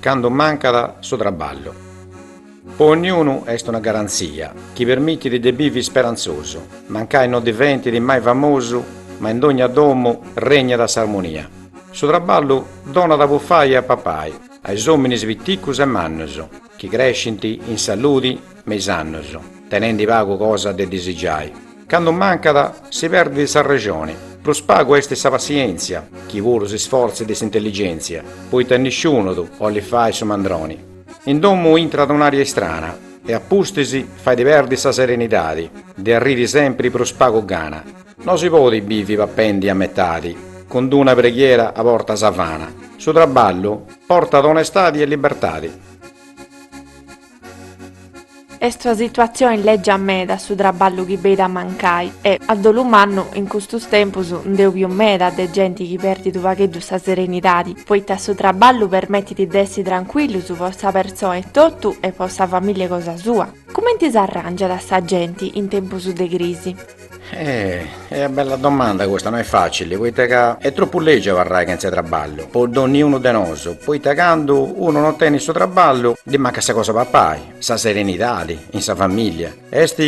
Candu mancat su traballu. Po dognunu est una garantzia chi permitit de bivi isperantzosu. Mancai no diventit mai famosu, ma in dogna domu regnat s'armonia. Su traballu donat a bufai e a papai a is ominis piticus e mannus. chi crescint in saludi me is annus, tenendi pagu cosa de disigiai, candu mancat si perdit s'arrexoni, prus pagu est sa passièntzia, aici puru s'isfortzu de s'intelligèntzia, poita nisciunu ddu 'olit fai su mandroni. In domu intrat un'ària istrana e a pustis fait perdiri sa serenidadi, de arriri sempri prus pagu gana, No si podit bivi papendi a metadi, cun d-una preghiera a porta sa gana, su traballu portat onestadi e libertadi. Est una situatzioni lègia meda su traballu chi benit a mancai e, a dolu mannu, in custus tempus nd'eus biu meda de genti chi perdit unu pagheddu sa serenidadi, poita su traballu permetit de essi trancuillus po sa persona etotu e po sa famìllia cosa sua. Cumenti s'arràngiat sa genti in tempus de crisi? Eh! Est bella domanda custa, no est facili, poita ca est tropu legiu abarrai chentza traballu po donniunu de nosu, poita candu unu no tenit su traballu ddi mancat sa cosa 'e papai, sa serenidadi in sa familia, est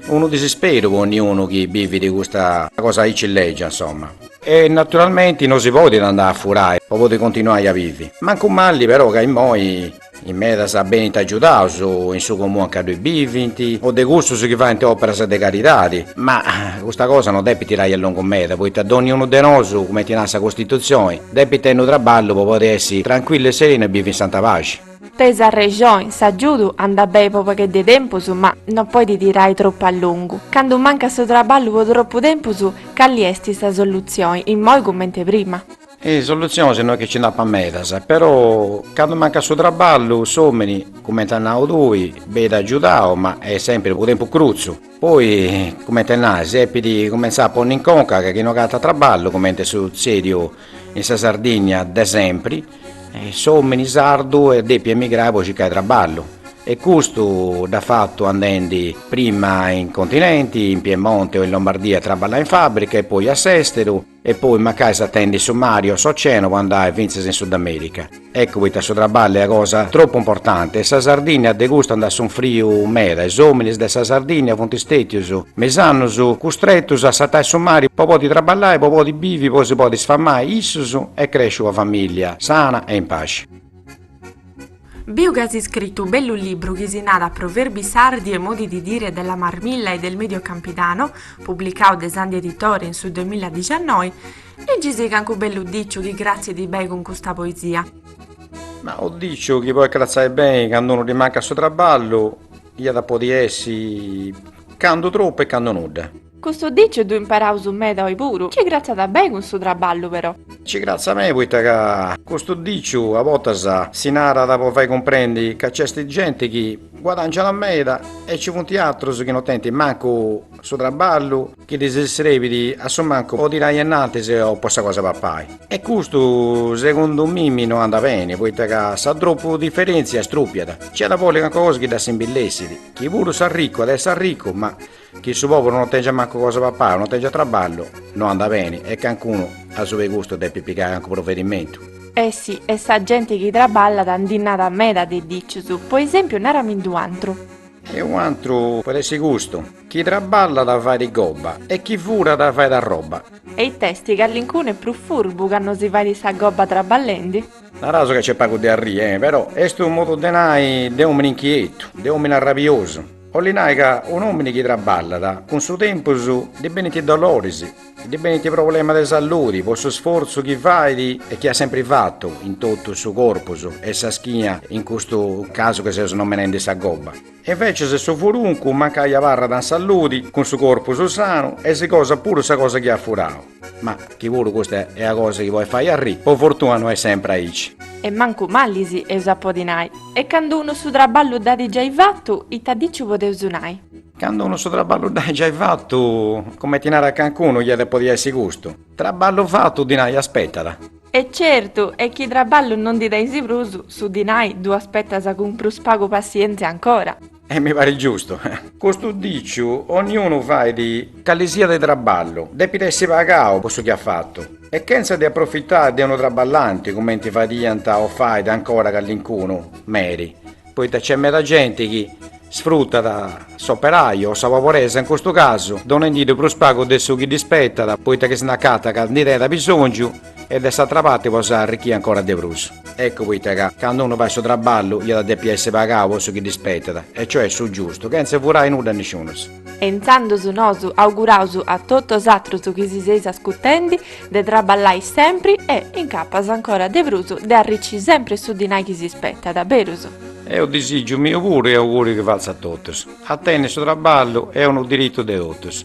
unu disisperu po onniunu chi bivit custa cosa aici legia insomma. E naturalmenti no si podit andai a furai po podi continuai a bivi, mancu mali però ca immoi. In medas benint agiudaus in su comunu ancà bivint o de cussus chi faint òperas de caridadi. Ma custa cosa no depit tirai a longu meda, poita dònnia unu de nosu, cumenti narat sa Costitutzioni, depit tenni unu traballu po podi essi trancuillu e serenu e bivi in santa paxi. De s'arrexoni s'agiudu andat beni po pagheddu 'e tempus ma no podit tirai tropu a longu. Candu mancat su traballu po tropu tempus, cali est sa solutzioni, immoi cumenti prima? Is solutzionis no est chi nci nd'apat medas, però candu mancat su traballu s'òmini, cumenti as nau tui, benit agiudau, ma est sèmpiri unu tempus crutzu. Poi, cumenti a nai, si depit cumentzai a ponni in conca ca chi no agatat traballu, cumenti est sutzèdiu in sa Sardigna de sèmpiri, s'òmini sardu est dèpiu emigrai po circai traballu. E custu dd'at fatu andendi prima in continenti, in Piemonte o in Lombardia a traballai in fàbrica e poi a s'èsteru, E poi mancai sartendi su mari o s'oceanu po andai fintzas in Sudamerica. Eccu poita su traballu est cosa tropu importanti e sa Sardinnia de custu nd'at sunfriu meda e is ominis de sa Sardinnia funt stetius me is annus custretus a sartai su mari po podi traballai po podi bivi po si podi sfamai issus e cresci una familia sana e in paxi. Biu chi as iscritu unu bellu libru chi si narat Proverbi sardi e modi di dire della Marmilla e del Medio Campidano, publicau de Sandhi Editore in su duemiladiciannoi, liggisì cancu bellu diciu chi cratzit beni cun custa poesia. Ma unu diciu chi podit cratzai beni candu unu ddi mancat su traballu iat a podi essi candu tropu e candu nudda. Custu diciu ddu imperaus meda oi puru. Ci cratzat beni cun su traballu però. Ci cratzat beni poita ca custu diciu a bortas si narat po fai cumprendi ca nc'est genti chi guadangiat meda e ci funt atrus chi no tenint mancu su traballu chi ddis srebit a su mancu po tirai innantis o po sa cosa 'e papai. E custu segundu mimi no andat beni poita ca sa tropu diferentzia strupiat. Nci at a bolli calincuna cosa chi dda simbillessit, chi puru s'arricu at a essi arricu ma Chi su pobulu non tengiat mancu cosa 'e papai, non tengiat traballu, no andat beni e cancunu asuba 'e custu depit pigai cancu provedimentu. E si, e sa genti chi traballat ndi nat meda de dicius, po esempiu nara·mi·ndi un'antru. E un'antru podit essi custu. Chi traballat fait gobba e chi furat fait a roba. E it'esti, callincunu est prus furbu ca no si fait sa gobba traballendi? Naraus ca nc'est pagu de arriri, e però, est unu modu de nai de omini inchietu, de omini arrabiosu. Oli nai ca un'omini chi traballat cun su tempus ddi benint doloris, ddi benint problemas de salludi po su sforzu chi fait e chi at sempri fatu in totu su corpus e sa schina in custu casu chi seus nomenendi sa gobba. E invecias su furuncu mancai abarrat in salludi cun su corpus sanu e si gosat puru sa cosa chi at furau. Ma chi puru custa est una cosa chi podet fai arriri, po fortuna no est sempre aici. E mancu malis eus a podi nai. E candu unu su traballu dd'at giai fatu, ita diciu podeus nai? Candu unu su traballu dd'at giai fatu, comenti narat cancunu, iat a podi essi custu, Traballu fatu, dinai aspetat. E certu, e chi traballu no ndi tenis prus, su dinai ddu aspetas cun prus pagu passienzia ancora. E mi parit giustu. Custu diciu, onniunu fait cali siat de traballu, depit essi pagau po su chi at fatu, e chentza de aprofitai de unu traballanti, cumenti fadiant o fait ancora calincunu meri, poita nc'est meda genti chi sfrutat s'operaiu o sa pobresa in custu casu, donendi ddu prus pagu de su chi ddi spetat, poita chi si nd'acatat ca ndi tenit bisongiu, E de s'atra parte po s'arrichì ancora de prus. Eccu poita ca, candu unu fait su traballu, iat a depi essi pagau po su chi dd'ispetat, e cioè su giustu, chentza furai nudda a nisciunus. E intzandus nosu auguraus a totus 'osatrus chi si seis ascutendi, de traballai sempri e, in capas ancora de prus, de arricci sempri su dinai chi s'ispetat, berus? Est unu disigiu miu puru e auguriu chi fatzu a totus. A tenni su traballu est unu diritu de totus.